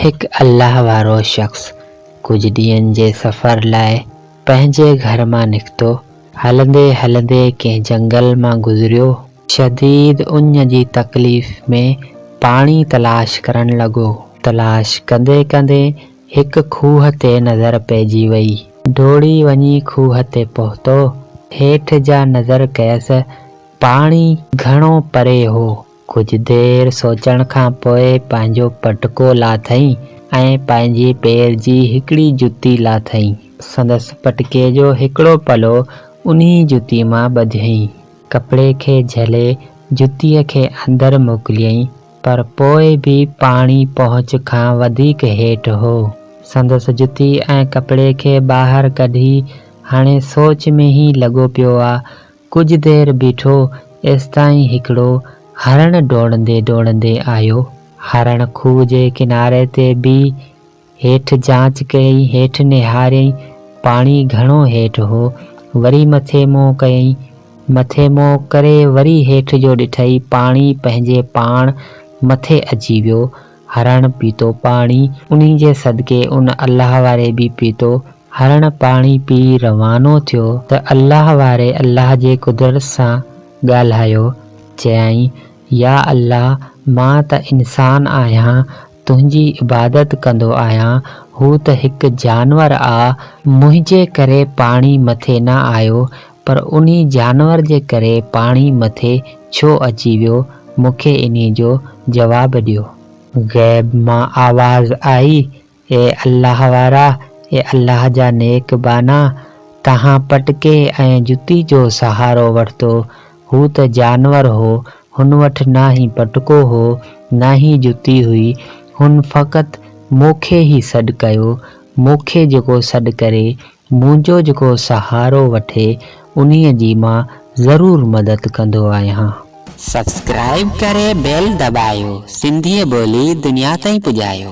هڪ الله وارو شخص ڪجهه ڏينهن جي سفر لاء پنهنجي گهر مان نڪتو. هلندي هلندي ڪنهن جنگل مان گذريو. شديد اڃ جي تڪليف ۾ پاڻي تلاش ڪرڻ لڳو. تلاش ڪندي ڪندي هڪ کوهه تي نظر پئجي وئي. ڊوڙي وڃي کوهه تي پهتو. هيٺ جا نظر ڪيس پاڻي گهڻو پري هو. ڪجهه دير سوچڻ کان پوء پنهنجو پٽڪو لاٿئين ۽ پنهنجي پير جي هڪڙي جتي لاٿئين. سندس پٽڪي جو هڪڙو پلو انهي جتي مان ٻڌيئين. ڪپڙي کي جهلي جتيء کي اندر موڪليئين، پر پوء به پاڻي پهچ کان وڌيڪ هيٺ هو. سندس جتي ۽ ڪپڙي کي ٻاهر ڪڍي هاڻي سوچ ۾ ئي لڳو پيو آ ڪجهه دير بيٺو، ايستائين هڪڙو هرڻ ڊوڙندي ڊوڙندي آيو. هرڻ کوهه جي ڪناري تي بيهي هيٺ جاچ ڪيائين، هيٺ نهاريائين، پاڻي گهڻو هيٺ هو. وري مٿي منهن ڪيائين، مٿي منهن ڪري وري هيٺ جو ڏٺائين، پاڻي پنهنجي پاڻ مٿي اچي ويو. هرڻ پيتو پاڻي. انهي جي صدقي ان الله واري به پيتو، هرڻ پاڻي پي روانو ٿيو ته الله واري الله جي قدرت سان ڳالهايو، چيائين، يا الله مان ته انسان آهيان، تنهنجي عبادت ڪندو آهيان، هو ته هڪ جانور آ، منهنجي ڪري پاڻي مٿي نه آيو، پر انهي جانور جي ڪري پاڻي مٿي ڇو اچي ويو، مون کي انهي جو جواب ڏيو. غيب مان آواز آئي، اي الله وارا، اي الله جا نيڪ ٻانها، توهان پٽڪي ۽ جتي جو سهارو ورتو، هو ته جانور هو، هن وٽ نه ئي پٽڪو هو، نه ئي جتي هئي، هن فقط مون کي ئي سڏ ڪيو، مون کي جيڪو سڏ ڪري، منهنجو جيڪو سهارو وٺي، انهيء جي مان ضرور مدد ڪندو آهيان. سبسڪرائيب ڪري بيل دٻايو سنڌيء ٻولي دنيا تائين پڄايو.